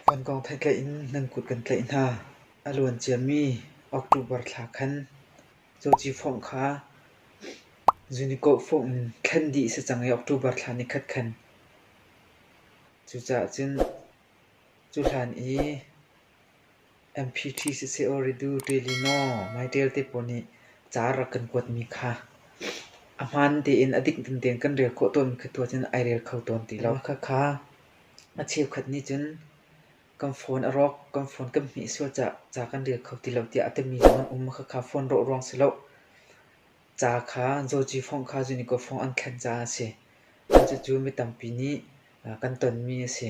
Kan kong theih tlaih in nan kut kan tlaih hna. A luan ciami October thla khan cawci fawngh kha zunikkawh fawngh in thlen dih a si cang i October thla ni khat khan. Cucaah cun cu hlan i MPT siseh aw Redu Ṭuilino Maiṭial te pawl nih ca a rak kan kuatmi kha a hmaan tein a dik dingding kan rel khawh tawnmi kha tu ahcun ai rel kho tawn ti lo. Khakha a cheukhat nih cun kan phone a rawk, kan phone kan hmih sual ca, ca kan rel kho ti lo tiah a timi zong an um. Khakha phone rawh ruang si lo ca kha Zawci fawngh kha Zunigo fawngh an thlen caah a si. Cucu mi tampi nih kan tonmi a si.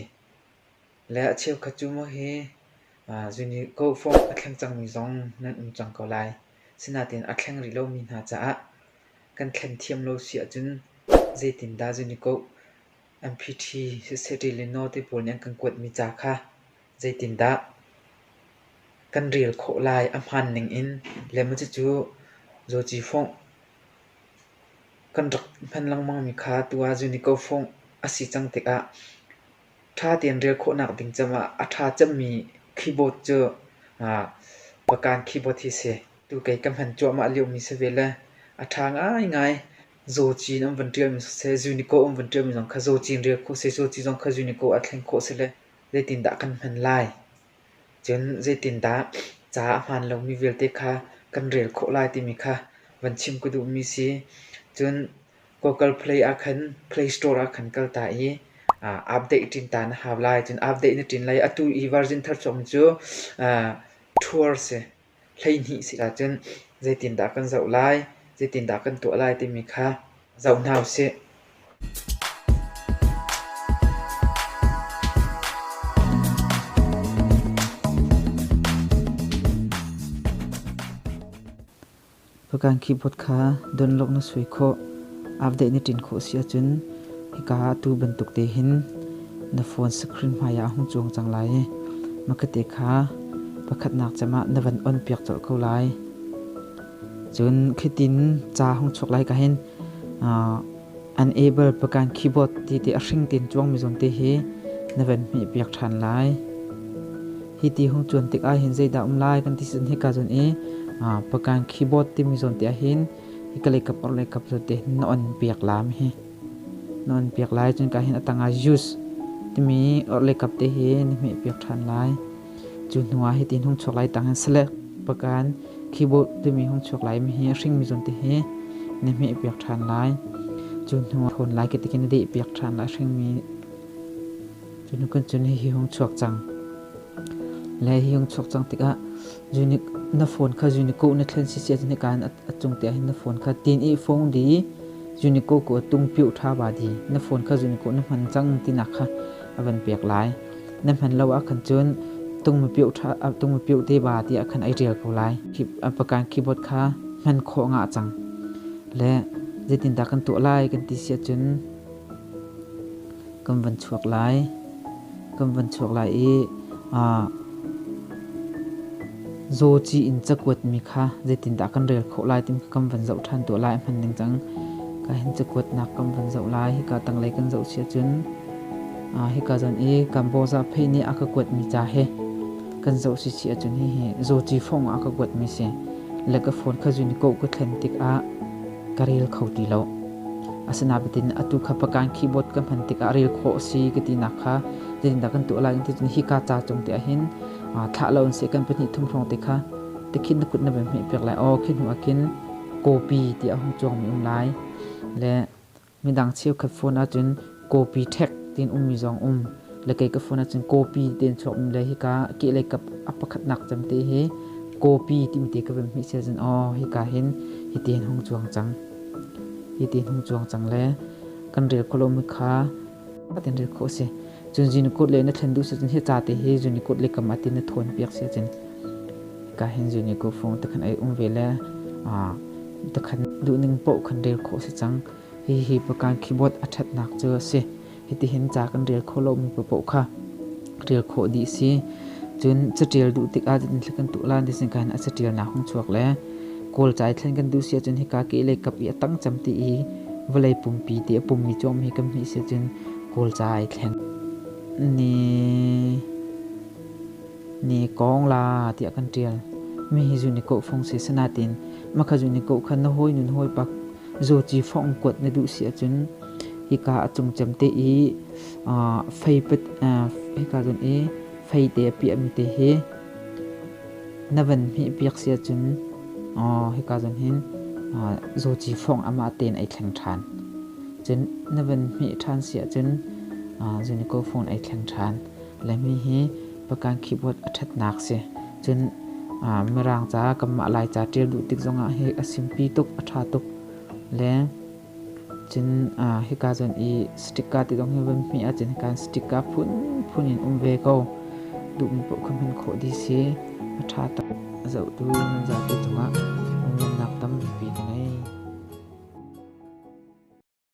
Le a cheukhat cu maw hi Zunigo form a thleng cangmi zong nan um cang ko lai. Sinain a thleng rih lomi hna caah kan thlen thiam lo si ahcun zeitindah Zunigo MPT Society le Note pawl nih an kan kuatmi ca kha zeitindah kan rel khawh lai a hmaan ningin le maw cucu Zawci Fawngh kan rak hman lengmangmi kha tu ah Zunigo Fawngh a si cang tikah ṭha tein rel khawhnak ding cang ah a ṭha cemmi keyboard cu Pakan keyboard hi a si. Tu kei ka hman cuahmah liomi si ve le a ṭha ngaingai. Zawci in an vun ṭialmi siseh, Zunico an vun ṭialmi zong kha zawci in rel khawh siseh, zawci zong kha Zunico ah thlen khawh siseh le zeitindah kan hman lai? Cun zeitindah ca a hmaan lomi vialte kha kan rel khawh lai timi kha van chim ka duhmi si. Cun Google Play ah khan Play Store ah khan kal ta i update ṭin ta na hau lai. Cun update na ṭin lai i atu i version thar chung cu tour a si, hleihnih a si ahcun zeitindah kan zoh lai, zeitindah kan tuah lai timi kha zoh hna u sih. Fakan keyboard kha dunlawk na sui khawh. Update na ṭin khawh si ahcun hika ah atu bantuk te hin na phone screen hmaiah a hung cuang cang lai i makate kha pakhatnak cem ah na van on piak colh ko lai. Cun khitin ca hung chuak lai ka hin unable Fakan keyboard ti te a hring tin cuangmi zawn te hi na van hmeh piak ṭhan lai. Hi ti hung cuan tik ah hin zeidah um lai kan ti cun hika cun i Pakain keyboard timi zawn te ah hin hika lei kap or lei kap zawn te na on piak lam hi na on piak lai cun ka hin a tang ah use timi or lei kap te hi na hmeh piak ṭhan lai cu hnu ah hi ti hung chuak lai tang in select Pakain keyboard timi hung chuak lai mi hi a hring mi zawn te hi na hmeh piak ṭhan lai cu hnu ah thawn lai kitikin na deh piak ṭhan lai a hring mi Cun kan cun hihi hung chuak cang. Le hi hung chuak cang tikah zunik na phone kha zuniko na thlen si si ahcun hika in a cung te ahhin na phone kha tin i phone di zuniko ko a tung piu ṭha ba di na phone kha zuniko na hman cang tinak kha a van pek lai na hman lo ah khan cun tung ma piu ṭha tung ma piu te ba tiah khan ai ṭial ko lai pakan keyboard kha hman khawh nga cang le zeitindah kan tuah lai kan ti si ahcun kan van chuak lai. Kan van chuak lai i aa zawci in cakuatmi kha zeitindah kan rel khawh lai ti kan van zoh ṭhan tuah lai hman ding cang. Ka hin cakuatnak kan van zoh lai. Hika tanglei kan zoh si ahcun aa hika zon i Kamboza phei nih a ka kuatmi ca hi kan zoh si si ahcun hihi zawci fawng ah a ka kuatmi si. Le ka phone kha zun i koh ka thlen tikah ka rel kho ti lo. Asinain atu kha Pakan keyboard kan hman tikah rel khawh a si ka tinak kha zeitindah kan tuah lai tiin hika ca cung te ahhin thlah lo in seh kan pahnih thum hrawng te kha tikhin na kut na van hmeh piak lai aw khi hnu ah khin copy ti a hung cuangmi um lai le Midang cheukhat phone ahcun copy ṭhek tiin ummi zong um. Le kei ka phone ahcun copy tein chuakmi le hika kehlei kap a pakhatnak cemte hi copy timi te ka vem hmih sia cun aw hika hin hiti hin hung cuang cang. Hiti hin hung cuang cang le kan rel khawh lomi kha fatin rel khawh a si. Cun zun i kut le na ṭhen duh si cun hi ca te hi zun i kut le kam a ti na thawnpiak si cun ka hin zun i kut fung te khan ei um ve le te khan duhning paoh khan rel khawh si cang. Hihi pakan keyboard a ṭhatnak cu a si. Hitihin ca kan rel kho lomi paoh kha rel khawh dih si. Cun caṭial duh tikah cun thil kan tuah lai ti sin khan a caṭialnak hung chuak le kawl cai thlen kan duh si ahcun hika ke lei kap i a tangcam ti i vawlei pumpi ti a pummi cuam hi kan hmih si cun Kulca ai thlen. Ni ni kong la tiah kan tial. Mi hi zu ni ko phong si sanatin maka zu ni ko khan na hoi nun hoi pak zo chi phong kuat na duh si acun hika acung cem te i fei pet hika zun i fei te piam te hi Na van hmihpiak si ahcun hika zon hin zawci fawng amah tein ai thleng ṭhan. Cun na van hmih ṭhan si ahcun zunico phone ai thleng ṭhan. Laimi hi pakan keyboard a ṭhatnak si. Cun mirang caah kanmah Laica ṭial duh tik zongah hi a simpi tuk, a ṭha tuk. Le Cun ah hika cun i sticker ti zong hi van hmih ahcun hika sticker phunphun in um ve ko. Duhmi paoh kha hman khawh dih si. A ṭha tuk. A zohtu nan zapi cungah phunglamnak tampi ka ngei.